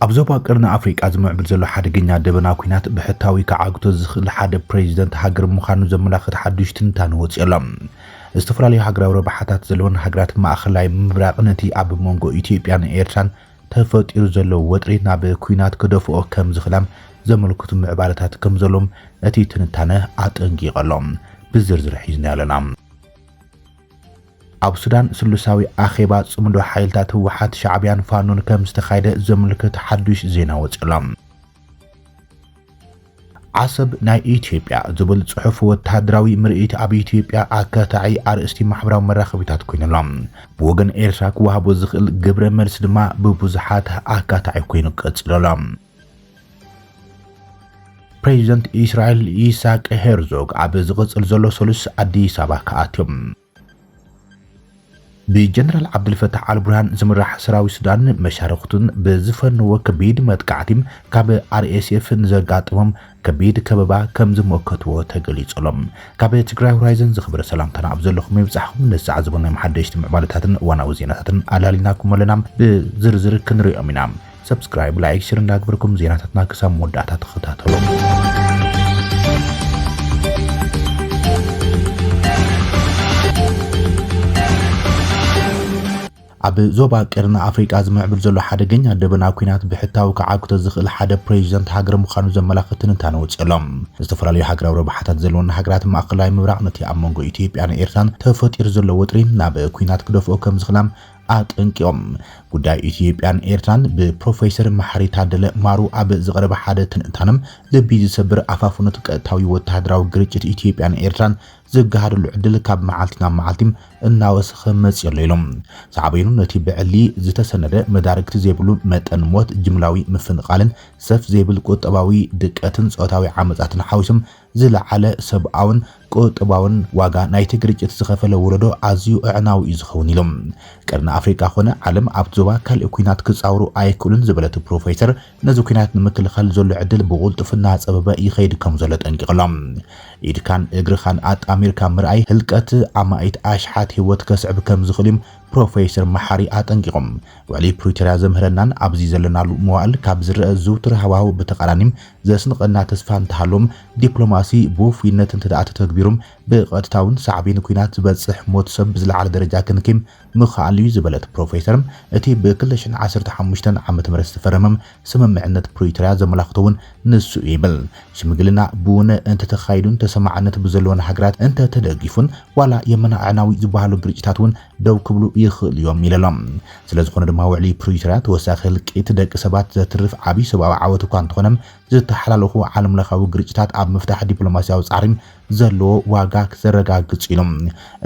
ኣብ ዞባ ቀርኒ ኣፍሪቃ ዝምዕብል ዘሎ ሓደገኛ ደበና ኩናት ብሕታዊ ክዓግቶ ዝኽእል ሓደ ፕሬዚደንት ሃገር ምዃኑ ዘመላኽት ሓዱሽ ትንታነ ወፂኦ ኣሎ። ዝተፈላለዩ ሃገራዊ ረብሓታት ዘለወን ሃገራት ማእኸላይ ምብራቕ ነቲ ኣብ መንጎ ኢትዮጵያን ኤርትራን ተፈጢሩ ዘሎ ወጥሪ ናብ ኲናት ክደፍኦ ከም ዝኽላ ዘመልክቱ ምዕባለታት ከም ዘሎም እቲ ትንታነ ኣጠንቂቑ ኣሎ። ብዝርዝር ሒዝናዮ ኣለና። ኣብ ሱዳን ስሉሳዊ ኣኼባ ጽምዶ ሓይልታት ህወሓት፣ ሻዕብያን ፋኖን ከም ዝተኻየደ ዘምልክት ሓዱሽ ዜና ወጺኡ ኣሎ። ዓሰብ ናይ ኢትዮጵያ ዝብል ጽሑፍ ወተሃደራዊ ምርኢት ኣብ ኢትዮጵያ ኣካታዒ ኣርእስቲ ማሕበራዊ መራኸቢታት ኮይኑ ኣሎ። ብወገን ኤርትራ ክወሃቦ ዝኽእል ግብረ መልሲ ድማ ብብዙሓት ኣካታዒ ኮይኑ ቀጺሉ ኣሎ። ፕሬዚደንት ኢስራኤል ኢሳቅ ሄርዞግ ኣብ ዝቕጽል ዘሎ ሰሉስ ኣዲስ ኣበባ ክኣትዮም ብጀነራል ዓብደልፈታሕ ኣልቡርሃን ዝምራሕ ሰራዊት ሱዳንን መሻርኽቱን ብዝፈነዎ ከቢድ መጥቃዕቲ ካብ RSF ንዘጋጠሞም ከቢድ ከበባ ከምዝሞከትዎ ተገሊጹ ኣሎ። ካብ ትግራይ ሆራይዘን ዝኸበረ ሰላምታና ኣብ ዘለኹም ይብጻሕኹም። ነዚ ሰዓት ዝበልናዮም ሓደሽቲ ምዕባለታትን እዋናዊ ዜናታትን ኣላሊናኩም ኣለና። ብዝርዝር ክንሪኦም ኢና። ሰብስክራይብ ላይክ ሽር እንዳግበርኩም ዜናታትና ክሳብ መወዳእታ ተኸታተሉ። ኣብ ዞባ ቀርኒ ኣፍሪቃ ዝምዕብል ዘሎ ሓደገኛ ደበና ኩናት ብሕታዊ ክዓግቶ ዝኽእል ሓደ ፕሬዚደንት ሃገር ምዃኑ ዘመላኽት ትንታነ ወፅሎም ዝተፈላለዩ ሃገራዊ ረብሓታት ዘለወን ሃገራት ማእኸላይ ምብራቕ ነቲ ኣብ መንጎ ኢትዮጵያን ኤርትራን ተፈጢሩ ዘሎ ወጥሪ ናብ ኩናት ክደፍኦ ከም ዝኽላም ኣጠንቂቖም። ጉዳይ ኢትዮጵያን ኤርትራን ብፕሮፌሰር መሓሪ ታደለ ማሩ ኣብ ዝቐረበ ሓደ ትንታነ፣ ልቢ ዝሰብር ኣፋፍኖት ቀጥታዊ ወተሃደራዊ ግርጭት ኢትዮጵያን ኤርትራን ዝገሃደሉ ዕድል ካብ መዓልቲ ናብ መዓልቲ እናወሰኸ መፂኡ ኣሎ ኢሎም። ሳዕቤኑ ነቲ ብዕሊ ዝተሰነደ መዳርግቲ ዘይብሉ መጠን ሞት፣ ጅምላዊ ምፍንቓልን ሰፍ ዘይብል ቁጠባዊ ድቀትን ፆታዊ ዓመፃትን ሓዊሶም ዝለዓለ ሰብኣውን ቁጠባውን ዋጋ ናይቲ ግርጭት ዝኸፈለ ወለዶ ኣዝዩ ኣዕናዊ እዩ ዝኸውን ኢሉ። ቀርኒ ኣፍሪቃ ኮነ ዓለም ኣብቲ ዞባ ካልእ ኲናት ክጻወሩ ኣይክእሉን ዝበለ'ቲ ፕሮፌሰር፣ ነዚ ኲናት ንምክልኻል ዘሎ ዕድል ብቕልጡፍ እናጸበበ ይኸይድ ከምዘሎ ጠንቂቕ'ሎ። ኢድካን እግርኻን ኣጣሚርካ ምርኣይ ህልቀት ኣማኢት ኣሽሓት ህይወት ከስዕብ ከምዝኽእል'ዩም ፕሮፌሰር መሓሪ ኣጠንቂቖም። ውዕሊ ፕሪቶርያ ዘምህረናን ኣብዚ ዘለናሉ መዋእል ካብ ዝረኣ ዝውቱር ሃዋህው ብተቓራኒ፣ ዘስንቐና ተስፋ እንተሃሎም ዲፕሎማሲ ብውፉይነት እንተደኣ ተተግቢሩ ብቐጥታውን ሳዕቤን ኲናት ዝበጽሕ ሞት ሰብ ብዝለዓለ ደረጃ ክንኪም ምኸኣል'ዩ ዝበለት ፕሮፌሰር፣ እቲ ብ ክልተ ሽሕን ዓሰርተ ሓሙሽተን ዓመተ ምህረት ዝተፈረመ ስምምዕነት ፕሪቶርያ ዘመላኽቶ'ውን ንሱ'ዩ ይብል። ሽምግልና ብውነ እንተተኻይዱን ተሰማዕነት ብዘለወን ሃገራት እንተተደጊፉን ዋላ የመና ኣዕናዊ ዝበሃሉ ግርጭታት'ውን ደው ክብሉ ይኽእሉ እዮም ኢለ'ሎ። ስለዝኾነ ድማ ውዕሊ ፕሪቶርያ ተወሳኺ ህልቂት ደቂ ሰባት ዘትርፍ ዓብይ ሰብኣዊ ዓወት እኳ እንተኾነ ዝተሓላለኹ ዓለምለኻዊ ግርጭታት ኣብ ምፍታሕ ዲፕሎማስያዊ ፃዕሪ ዘለዎ ዋጋ ዘረጋግፅ እዩ ኢሉ።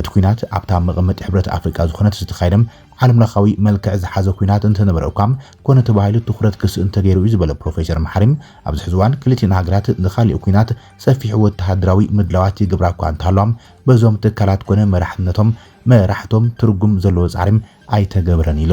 እቲ ኲናት ኣብታ መቐመጢ ሕብረት ኣፍሪቃ ዝኾነት ዝተኻየደ ዓለምለኻዊ መልክዕ ዝሓዘ ኲናት እንተነበረ እኳ ኮነ ተባሂሉ ትኹረት ክስእን ተገይሩ እዩ ዝበለ ፕሮፌሰር መሓሪ ኣብዚ ሕዚ እዋን ክልቲኤን ሃገራት ንኻሊእ ኲናት ሰፊሕ ወተሃደራዊ ምድላዋት ይገብራ እኳ እንተሃለዋ በዞም ትካላት ኮነ መራሕነቶም፣ መራሕቶም፣ ትርጉም ዘለዎ ጻዕሪ ኣይተገብረን ኢሉ።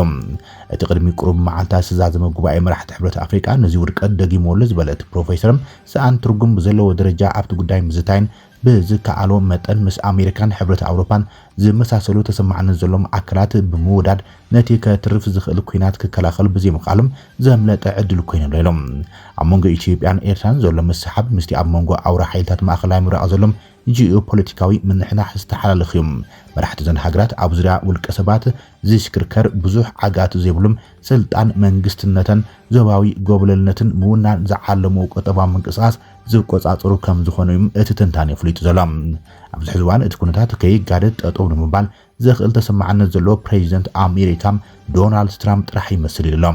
እቲ ቅድሚ ቁሩብ መዓልታት ዝተዛዘመ ጉባኤ መራሕቲ ሕብረት ኣፍሪቃ ነዚ ውድቀት ደጊምዎ ኣሎ ዝበለ እቲ ፕሮፌሰር፣ ሰኣን ትርጉም ብዘለዎ ደረጃ ኣብቲ ጉዳይ ምዝታይን ብዝከኣሎ መጠን ምስ ኣሜሪካን ሕብረት ኣውሮፓን ዝመሳሰሉ ተሰማዕነት ዘሎዎም ኣካላት ብምውዳድ ነቲ ከትርፍ ዝኽእል ኲናት ክከላኸሉ ብዘይምኽኣሉ ዘምለጠ ዕድል ኮይኑ ኣሎ ኢሉ። ኣብ መንጎ ኢትዮጵያን ኤርትራን ዘሎ ምስሕሓብ ምስቲ ኣብ መንጎ ኣውራ ሓይልታት ማእከላይ ምብራቕ ዘሎ ጂኦፖለቲካዊ ምንሕናሕ ዝተሓላለኽ እዩ። መራሕቲ እዘን ሃገራት ኣብ ዙርያ ውልቀ ሰባት ዝሽክርከር ብዙሕ ዓግኣት ዘይብሉም ስልጣን መንግስትነተን ዞባዊ ጎብለልነትን ምውናን ዝዓለምዎ ቁጠባዊ ምንቅስቓስ ዝቆፃፀሩ ከምዝኾኑ እዩ እቲ ትንታኔ ኣፍሊጡ ዘሎ። ኣብዚ ሕዚ እዋን እቲ ኩነታት ከይጋደድ ጠጠው ንምባል ዘኽእል ተሰማዕነት ዘለዎ ፕሬዚደንት ኣሜሪካ ዶናልድ ትራምፕ ጥራሕ ይመስል ኢሉ'ሎ።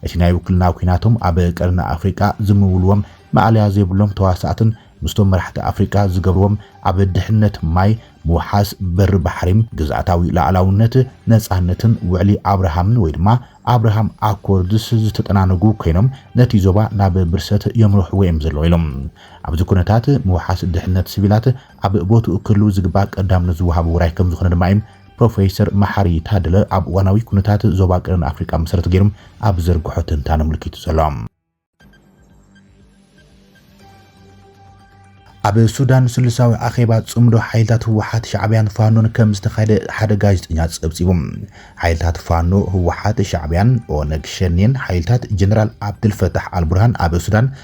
እቲ ናይ ውክልና ኲናቶም ኣብ ቀርኒ ኣፍሪቃ ዝምውልዎም ማእለያ ዘይብሎም ተዋሳእትን ምስቶም መራሕቲ ኣፍሪቃ ዝገብርዎም ኣብ ድሕነት ማይ፣ ምውሓስ በሪ ባሕሪ፣ ግዝኣታዊ ሉኣላውነት፣ ነጻነትን ውዕሊ ኣብርሃምን ወይ ድማ ኣብርሃም ኣኮርድስ ዝተጠናነጉ ኮይኖም ነቲ ዞባ ናብ ብርሰት የምርሕዎ'ዮም ዘለዉ ኢሉ። ኣብዚ ኩነታት ምውሓስ ድሕነት ስቪላት፣ ኣብ ቦትኡ ክህልው ዝግባእ ቀዳምነት ዝወሃቦ ውራይ ከምዝኾነ ድማ እዩም ፕሮፌሰር መሓሪ ታደለ ኣብ እዋናዊ ኩነታት ዞባ ቀርኒ ኣፍሪቃ መሰረት ገይሩም ኣብ ዝዘርግሖ ትንታነ ኣምልኪቱ ዘሎ። ኣብ ሱዳን ስልሳዊ ኣኼባ ጽምዶ ሓይልታት ህወሓት፣ ሻዕብያን ፋኖን ከም ዝተኻየደ ሓደ ጋዜጠኛ ጸብጺቡ። ሓይልታት ፋኖ፣ ህወሓት፣ ሻዕብያን ኦነግ ሸኔን ሓይልታት ጀነራል ዓብደልፈታሕ ኣልቡርሃን ኣብ ሱዳን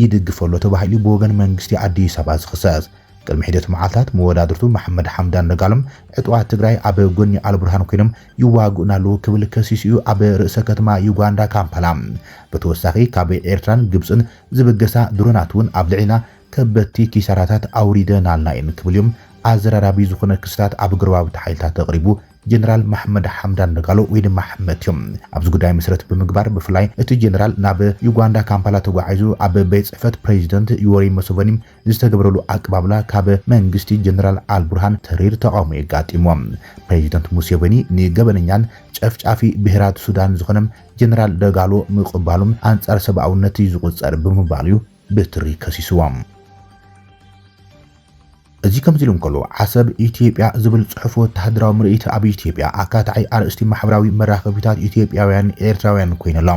ይድግፍ'ሎ ተባሂሉ ብወገን መንግስቲ ኣዲስ ኣበባ ዝኽሰስ። ቅድሚ ሒደት መዓልታት መወዳድርቱ መሓመድ ሓምዳን ደጋሎም ዕጡቓት ትግራይ ኣብ ጎኒ ኣልቡርሃን ኮይኖም ይዋግኡና ኣለው ክብል ከሲሱ እዩ ኣብ ርእሰ ከተማ ዩጋንዳ ካምፓላ ብተወሳኺ ካብ ኤርትራን ግብጽን ዝብገሳ ድሮናት'ውን ኣብ ልዕሊና ከበድቲ ኪሳራታት ኣውሪደን ኣልና እየን ክብል'ዩ ኣዘራራቢ ዝኾነ ክስታት ኣብ ጎረባብቲ ሓይልታት ኣቕሪቡ ጀነራል ማሕመድ ሓምዳን ደጋሎ ወይ ድማ ሕመት እዮም። ኣብዚ ጉዳይ መሰረት ብምግባር ብፍላይ እቲ ጀነራል ናብ ዩጋንዳ ካምፓላ ተጓዒዙ ኣብ ቤት ፅሕፈት ፕሬዚደንት ዩወሪ መሶቨኒ ዝተገበረሉ ኣቀባብላ ካብ መንግስቲ ጀነራል ኣልቡርሃን ተሪር ተቓውሞ የጋጢሞ። ፕሬዚደንት ሙሴቨኒ ንገበነኛን ጨፍጫፊ ብሄራት ሱዳን ዝኾነ ጀነራል ደጋሎ ምቕባሉ ኣንፃር ሰብኣውነት እዩ ዝቑፀር ብምባል እዩ ብትሪ ከሲስዎም። እዚ ከምዚ ኢሉ እንከሎ፣ ዓሰብ ኢትዮጵያ ዝብል ጽሑፍ ወተሃደራዊ ምርኢት ኣብ ኢትዮጵያ ኣካታዒ ኣርእስቲ ማሕበራዊ መራኸቢታት ኢትዮጵያውያንን ኤርትራውያንን ኮይኑ ኣሎ።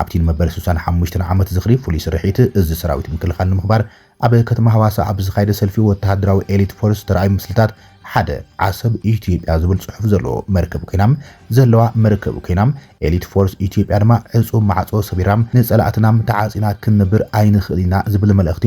ኣብቲ ንመበል ስሳን ሓሙሽተን ዓመት ዝኽሪ ፍሉይ ስርሒት እዚ ሰራዊት ምክልኻል ንምኽባር ኣብ ከተማ ሃዋሳ ኣብ ዝካየደ ሰልፊ ወተሃደራዊ ኤሊት ፎርስ ዝተራእዩ ምስልታት ሓደ ዓሰብ ኢትዮጵያ ዝብል ጽሑፍ ዘለዎ መርከብ ኮይና ዘለዋ መርከብ ኮይና ኤሊት ፎርስ ኢትዮጵያ ድማ ዕጹው ማዕጾ ሰቢራ ንጸላእትናም ተዓጺና ክንነብር ኣይንኽእልን ኢና ዝብል መልእኽቲ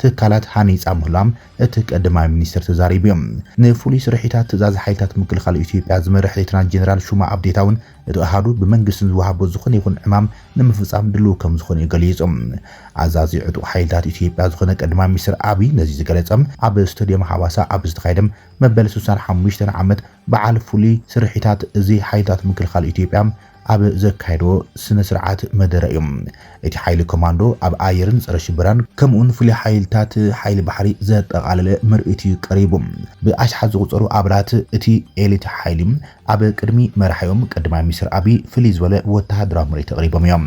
ትካላት ሃኒጻ ምህላዋን እቲ ቀዳማይ ሚኒስተር ተዛሪቡ። ንፍሉይ ስርሒታት ትእዛዝ ሓይልታት ምክልኻል ኢትዮጵያ ዝመርሕ ሌተናል ጀነራል ሹማ ኣብዴታ'ውን እቲ ኣሃዱ ብመንግስቲ ንዝወሃቦ ዝኾነ ይኹን ዕማም ንምፍጻም ድሉው ከምዝኾነ'ዩ ገሊጹ። ኣዛዚ ዕጡቕ ሓይልታት ኢትዮጵያ ዝኾነ ቀዳማይ ሚኒስተር ኣብይ ነዚ ዝገለጸ ኣብ ስታድየም ሃዋሳ ኣብ ዝተኻየደ መበል ስሳን ሓሙሽተን ዓመት በዓል ፍሉይ ስርሒታት እዚ ሓይልታት ምክልኻል ኢትዮጵያ ኣብ ዘካየዶ ስነ ስርዓት መደረ እዩ። እቲ ሓይሊ ኮማንዶ ኣብ ኣየርን ፀረ ሽበራን ከምኡ'ውን ፍሉይ ሓይልታት ሓይሊ ባሕሪ ዘጠቓለለ ምርኢት እዩ ቀሪቡ። ብኣሽሓት ዝቑፀሩ ኣባላት እቲ ኤሊት ሓይሊ ኣብ ቅድሚ መራሒኦም ቀዳማይ ሚኒስትር ኣቢይ ፍልይ ዝበለ ወተሃደራዊ ምርኢት ኣቕሪቦም እዮም።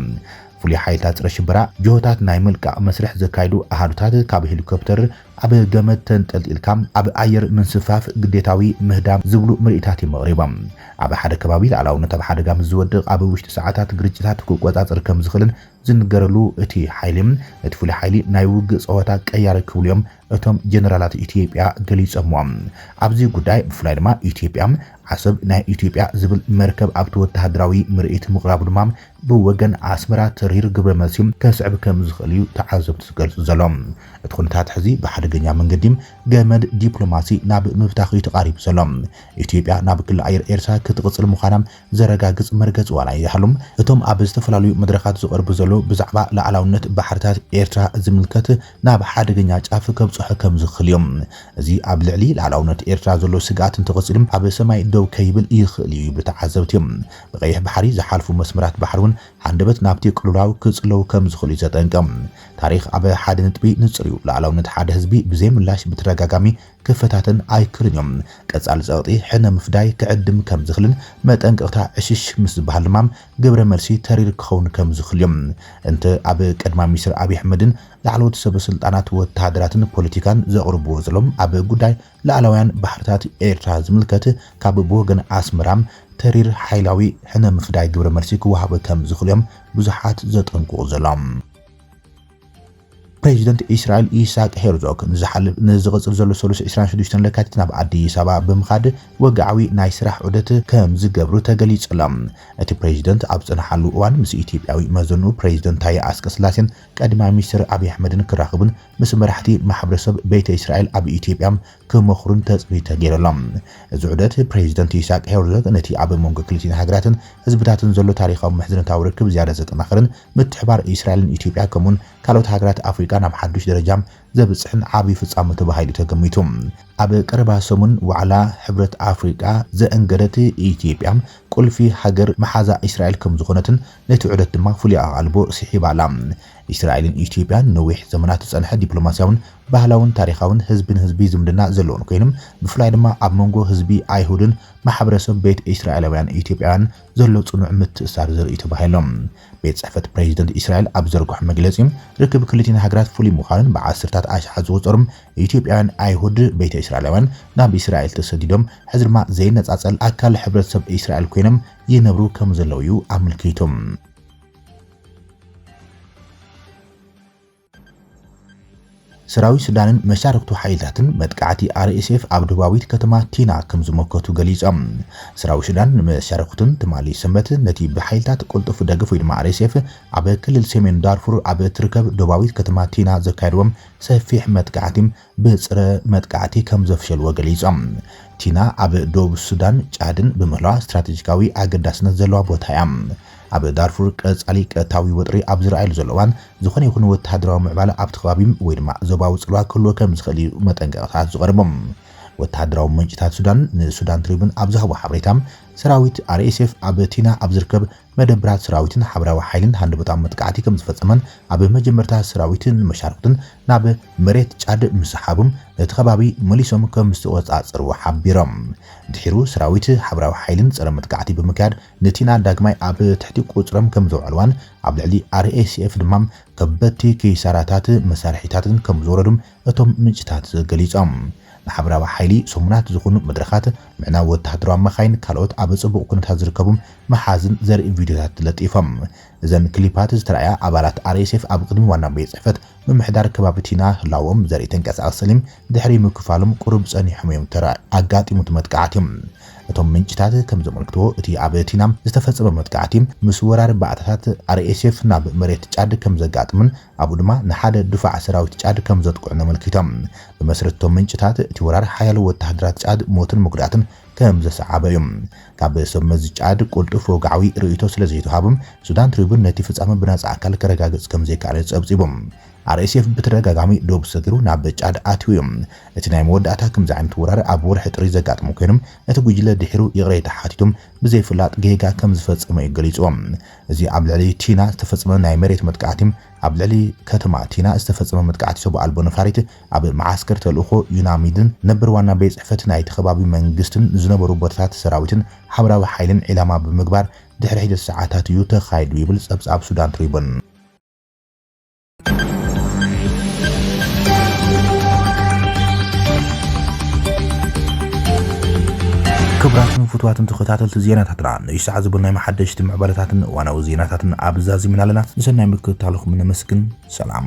ፍሉይ ሓይልታት ፀረ ሽበራ ጅሆታት ናይ ምልቃቕ መስርሕ ዘካይዱ ኣሃዱታት ካብ ሄሊኮፕተር ኣብ ገመድ ተንጠልጢልካ ኣብ ኣየር ምንስፍፋፍ ግዴታዊ ምህዳም ዝብሉ ምርኢታት እዮም ኣቕሪቦም። ኣብ ሓደ ከባቢ ልኣላውነት ኣብ ሓደጋ ምስ ዝወድቕ ኣብ ውሽጢ ሰዓታት ግርጭታት ክቆጻጸር ከም ዝኽእልን ዝንገረሉ እቲ ሓይሊ፣ ነቲ ፍሉይ ሓይሊ ናይ ውግእ ጸወታ ቀያሪ ክብሉ እዮም እቶም ጀነራላት ኢትዮጵያ ገሊጾምዎ። ኣብዚ ጉዳይ ብፍላይ ድማ ኢትዮጵያ ዓሰብ ናይ ኢትዮጵያ ዝብል መርከብ ኣብቲ ወተሃደራዊ ምርኢት ምቕራቡ ድማ ብወገን ኣስመራ ተሪር ግብረ መልሲ ከስዕብ ከም ዝኽእል እዩ ተዓዘብቲ ዝገልጹ ዘለዉ። እቲ ኩነታት ሕዚ ብሓደገኛ መንገዲ ገመድ ዲፕሎማሲ ናብ ምብታኽ እዩ ተቓሪቡ ዘሎ። ኢትዮጵያ ናብ ክሊ ኣየር ኤርትራ ክትቕጽል ምዃና ዘረጋግጽ መርገጺ ዋላ ይሃሉ እቶም ኣብ ዝተፈላለዩ መድረኻት ዝቐርቡ ዘለዉ ብዛዕባ ልኣላውነት ባሕርታት ኤርትራ ዝምልከት ናብ ሓደገኛ ጫፍ ከብጽሖ ከም ዝኽእል እዩ። እዚ ኣብ ልዕሊ ልኣላውነት ኤርትራ ዘሎ ስግኣት እንተቐጺሉ ኣብ ሰማይ ደው ከይብል ይኽእል እዩ ይብሉ ተዓዘብቲ። ብቀይሕ ባሕሪ ዝሓልፉ መስመራት ባሕሪ እውን ሃንደበት ናብቲ ቅልውላው ክጽለዉ ከም ዝኽእሉ እዩ ዘጠንቅቕ። ታሪኽ ኣብ ሓደ ነጥቢ ንጹር እዩ፣ ሉኣላውነት ሓደ ህዝቢ ብዘይ ምላሽ ብተደጋጋሚ ክፈታተን ኣይክእልን እዩ። ቀጻሊ ጸቕጢ ሕነ ምፍዳይ ክዕድም ከም ዝኽልን መጠንቀቕታ ዕሽሽ ምስ ዝበሃል ድማ ግብረ መልሲ ተሪር ክኸውን ከም ዝኽል እዩ። እንተ ኣብ ቀዳማይ ሚኒስተር ኣብይ ኣሕመድን ላዕለዎት ሰበ ስልጣናት ወተሃደራትን ፖለቲካን ዘቕርብዎ ዘሎም ኣብ ጉዳይ ላእላውያን ባሕርታት ኤርትራ ዝምልከት ካብ ብወገን ኣስመራ ተሪር ሓይላዊ ሕነ ምፍዳይ ግብረ መልሲ ክወሃቦ ከም ዝኽእል'ዮም ብዙሓት ዘጠንቅቑ ዘሎም። ፕረዚደንት እስራኤል ኢሳቅ ሄርዞግ ንዝሓልፍ ንዝቕጽል ዘሎ ሰሉስ ዕስራን ሽዱሽተን ለካቲት ናብ ኣዲስ ኣበባ ብምኻድ ወግዓዊ ናይ ስራሕ ዑደት ከም ዝገብሩ ተገሊጹ'ሎ። እቲ ፕረዚደንት ኣብ ዝጸንሓሉ እዋን ምስ ኢትዮጵያዊ መዘንኡ ፕረዚደንት ታየ ኣስቀስላሴን ቀዳማይ ሚኒስተር ኣብይ ኣሕመድን ክራኽቡን ምስ መራሕቲ ማሕብረሰብ ቤተ እስራኤል ኣብ ኢትዮጵያ ክመኽሩን ተጽቢት ተገይሩ ኣሎ። እዚ ዑደት ፕሬዚደንት ኢሳቅ ሄርዞግ ነቲ ኣብ መንጎ ክልቲኤን ሃገራትን ህዝብታትን ዘሎ ታሪኻዊ ምሕዝነታዊ ርክብ ዝያዳ ዘጠናኽርን ምትሕብባር እስራኤልን ኢትዮጵያ ከምኡውን ካልኦት ሃገራት ኣፍሪቃ ናብ ሓዱሽ ደረጃ ዘብጽሕን ዓብዩ ፍጻመ ተባሂሉ ተገሚቱ። ኣብ ቀረባ ሰሙን ዋዕላ ሕብረት ኣፍሪቃ ዘእንገደት ኢትዮጵያ ቁልፊ ሃገር መሓዛ እስራኤል ከምዝኾነትን ነቲ ዑደት ድማ ፍሉይ ኣቓልቦ ስሒባ ኣላ። እስራኤልን ኢትዮጵያን ንነዊሕ ዘመናት ዝጸንሐ ዲፕሎማስያውን ባህላውን ታሪኻውን ህዝቢ ንህዝቢ ዝምድና ዘለወን ኮይኑ፣ ብፍላይ ድማ ኣብ መንጎ ህዝቢ ኣይሁድን ማሕበረሰብ ቤት እስራኤላውያን ኢትዮጵያውያን ዘሎ ጽኑዕ ምትእስሳር ዘርእ'ዩ ተባሂሉ። ቤት ጽሕፈት ፕረዚደንት እስራኤል ኣብ ዝዘርግሖ መግለጺ፣ ርክብ ክልቲኤን ሃገራት ፍሉይ ምዃኑን ብዓሰርታት ኣሽሓት ዝቑጸሩ ኢትዮጵያውያን ኣይሁድ ቤተ እስራኤላውያን ናብ እስራኤል ተሰዲዶም ሕዚ ድማ ዘይነጻጸል ኣካል ሕብረተሰብ እስራኤል ኮይኖም ይነብሩ ከምዘለዉ'ዩ ኣመልኪቱ። ሰራዊት ሱዳንን መሻርኽቱ ሓይልታትን መጥቃዕቲ RSF ኣብ ደቡባዊት ከተማ ቲና ከም ዝመከቱ ገሊጾም። ሰራዊት ሱዳን ንመሻርኽቱን ትማሊ ሰንበት ነቲ ብሓይልታት ቅልጡፍ ደገፍ ወይ ድማ RSF ኣብ ክልል ሰሜን ዳርፉር ኣብ እትርከብ ደቡባዊት ከተማ ቲና ዘካየድዎ ሰፊሕ መጥቃዕቲ ብጽረ መጥቃዕቲ ከም ዘፍሸልዎ ገሊጾም። ቲና ኣብ ዶብ ሱዳን ጫድን ብምህላዋ ስትራተጂካዊ ኣገዳስነት ዘለዋ ቦታ እያ። ኣብ ዳርፉር ቀጻሊ ቀጥታዊ ወጥሪ ኣብ ዝርኣየሉ ዘሎ እዋን ዝኾነ ይኹን ወተሃደራዊ ምዕባለ ኣብቲ ከባቢ ወይ ድማ ዞባዊ ጽልዋ ክህልዎ ከም ዝኽእል እዩ መጠንቀቕታታት ዝቐርቡ። ወተሃደራዊ ምንጭታት ሱዳን ንሱዳን ትሪቡን ኣብ ዝሃብዎ ሓበሬታ ሰራዊት RSF ኣብ ቲና ኣብ ዝርከብ መደብራት ሰራዊትን ሓበራዊ ሓይሊን ሃንደበታዊ መጥቃዕቲ ከምዝፈጸመን ኣብ መጀመርታ ሰራዊት ንመሻርኽቱን ናብ መሬት ጫድ ምስሓቡን ነቲ ከባቢ መሊሶም ከምዝተቖጻጸርዎ ሓቢሮም። ድሒሩ ሰራዊት ሓበራዊ ሓይሊን ጸረ መጥቃዕቲ ብምክያድ ንቲና ዳግማይ ኣብ ትሕቲ ቁጽጽሮም ከምዘውዐልዋን ኣብ ልዕሊ RSF ድማ ከበድቲ ኪሳራታት መሳርሒታትን ከምዝወረዱን እቶም ምንጭታት ገሊጾም። ንሓበራዊ ሓይሊ ሰሙናት ዝኹኑ መድረኻት፣ ምዕናው ወተሃደራዊ መኻይን ካልኦት ኣብ ጽቡቕ ኩነታት ዝርከቡ መሓዝን ዘርኢ ቪድዮታት ለጢፎም። እዘን ክሊፓት ዝተራእያ ኣባላት RSF ኣብ ቅድሚ ዋና ቤት ጽሕፈት ምምሕዳር ከባቢ ቲና ህላወኦም ዘርኢ ተንቀሳቓሲ ስሊም ድሕሪ ምክፋሎም ቁሩብ ጸኒሖም'ዮም ተራእዮም። ኣጋጢሙ እቲ መጥቃዕቲ። እቶም ምንጭታት ከም ዘመልክትዎ እቲ ኣብ ቲና ዝተፈጸመ መጥቃዕቲ ምስ ወራር ባእታታት RSF ናብ መሬት ጫድ ከም ዘጋጥምን ኣብኡ ድማ ንሓደ ድፋዕ ሰራዊት ጫድ ከም ዘጥቅዑን ኣመልኪቶም። ብመስረት እቶም ምንጭታት፣ እቲ ወራር ሓያሎ ወተሃደራት ጫድ ሞትን መጉዳእትን ከም ዘሰዓበ እዩ። ካብ ሰብ መዚ ጫድ ቅልጡፍ ወግዓዊ ርእይቶ ስለ ዘይተዋህቦም፣ ሱዳን ትሪቡን ነቲ ፍጻመ ብናጻ ኣካል ከረጋግጽ ከም ዘይከኣለ ጸብጺቡ። RSF ብተደጋጋሚ ዶብ ሰጊሩ ናብ ጫድ ኣትዩ እዩ። እቲ ናይ መወዳእታ ከምዚ ዓይነት ወራር ኣብ ወርሒ ጥሪ ዘጋጠመ ኮይኑ፣ እቲ ጉጅለ ድሒሩ ይቕሬታ ሓቲቱ ብዘይፍላጥ ጌጋ ከም ዝፈጸመ እዩ ገሊጹ። እዚ ኣብ ልዕሊ ቲና ዝተፈጸመ ናይ መሬት መጥቃዕቲ፣ ኣብ ልዕሊ ከተማ ቲና ዝተፈጸመ መጥቃዕቲ ሰቡእ ኣልቦ ነፋሪት፣ ኣብ መዓስከር ተልእኾ ዩናሚድን ነበር ዋና ቤት ጽሕፈት ናይቲ ከባቢ መንግስትን ዝነበሩ ቦታታት ሰራዊትን ሓበራዊ ሓይልን ዒላማ ብምግባር ድሕሪ ሒደት ሰዓታት እዩ ተኻይዱ ይብል ጸብጻብ ሱዳን ትሪቡን። ክቡራትን ፍቱዋትን ተኸታተልቲ ዜናታትና ንእሽ ሰዓት ዝበልናዮም ሓደሽቲ ምዕባለታትን እዋናዊ ዜናታትን ኣብ ዛዚምና ኣለና። ንሰናይ ምክትታልኹም ነመስግን። ሰላም